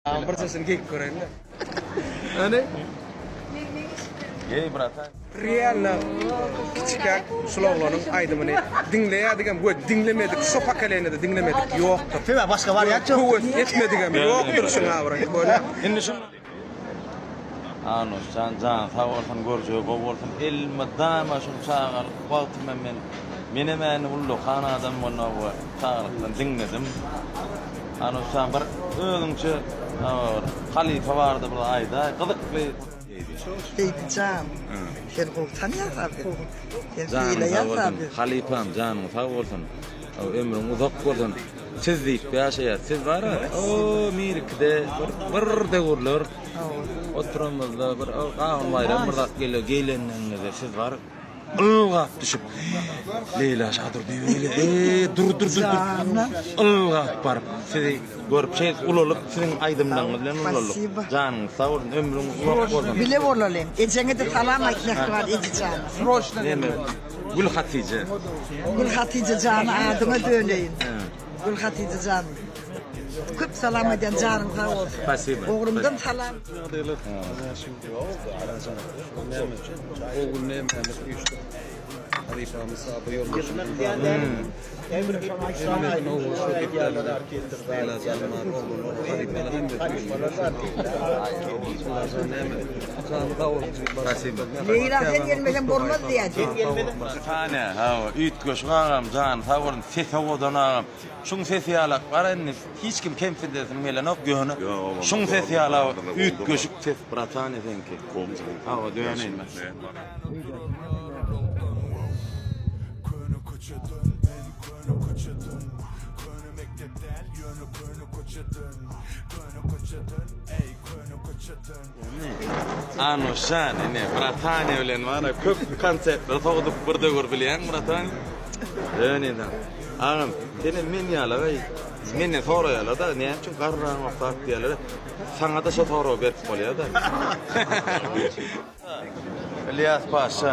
Tamam bir sesini geyip göreyin de. Hani? Gey bratan. Realno kiçikäk şul oglanyň aýdymyny diňleýädigem we diňlemedik şu pokoleniýada diňlemedik ýokdur. Sebäbi başga wariant ýok. Höwes etmedigem ýokdur şuň abraýy köne. Indi şu Anusjan janyň sag bolsun görjegi gowy bolsun elmydama şul çagalyk wagtym hem men menem äni ullakan adam bolmagy we çagalykdan diňledim. Hany şa bir özüňçe bir halypa barada bir aýdaý gyzykly. Seýdi jan, sen gowy tanýaňka bizi. Sen sylaýaňka bizi. Halypam janyň sag bolsun. Ömrüň uzak bolsun. Siz diýip ýaşaýas. Siz bara o Mirikide bir döwürler oturamyzda bir Gahym Baýram bir zat gelýär. Geýlenligiňizde siz bar. Ylgap düşüp, Leýla şa dur diýip eýle, eý, dur, dur, dur, dur. Ylgap baryp, sizi görüp, şeýdip ulalyp, siziň aýdymlaryňyz bilen ulalyk. Janyňyz sag bolsun, ömrüň uzak bolsun. Bile bolalyň. Ejeňe-de salam aýt, mähriban ejejana. Sroçno gelme. Gülhatije. Gülhatije jana adyňa döneýin. Gülhatije jan. Köp salam aýdýan janyň sag bolsun. Spasiba. Ogrumdan salam. Leýla sen gelmesen bolmaz diýýä. Tane hawa üýtgeşik agam jany sag bolsun ses owadan agam. Şuň sesi ýalak bar indi hiç kim kemsiz desin gelenok ýöne şuň sesi ýalak üýtgeşik ses bratany seňki hawa döneýin. Anuşjan ine bratanya bilen wara köp konsertler sowduk bir döwür bilýäň bratany. Ýöne da agam senem men ýala gaý menden soraýalada näme üçin garraň okap diýýäler saňada şo soragy berip bolýada. Ylýas paşa.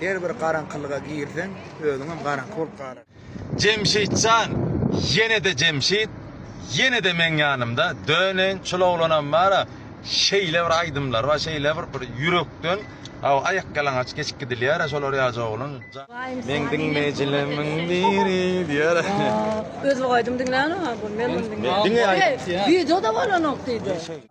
Her bir garaňkylyga girseň özüňem garaňky bolup galar. Jemşitjan ýenede Jemşit ýenede meň ýanymda döneýin şul oglanam bara şeýle bir aýdymlary bar şeýle bir bir ýürekden aw aýak ýalaňaç geçip gidilýärä şolar ýaja oglan meň diňleýjilemiň biri diýýärä. Özbek aýdym diňlänok ha bu men muny diňleýän. Diňe aýdym diňe. Wideoda bolanok diýdi.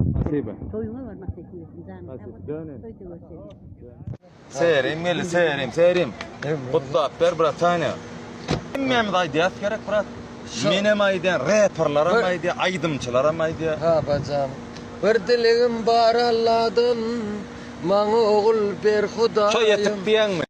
Spasiba. Toýuňa barmak teklip etdim janym. Spasiba. Döne. Toýda görüşeris. Seýerim geldi, seýerim, seýerim. Gutlap ber, bratanya. Hemmämiz aýdýas gerek, brat. Menem aýdýan, reperleram aýdýa, aýdymçylaram aýdýa. Babajan. Bir dilegim bar Alladan, maňa ogul ber Hudaýym. Toý etip diýýäňmi?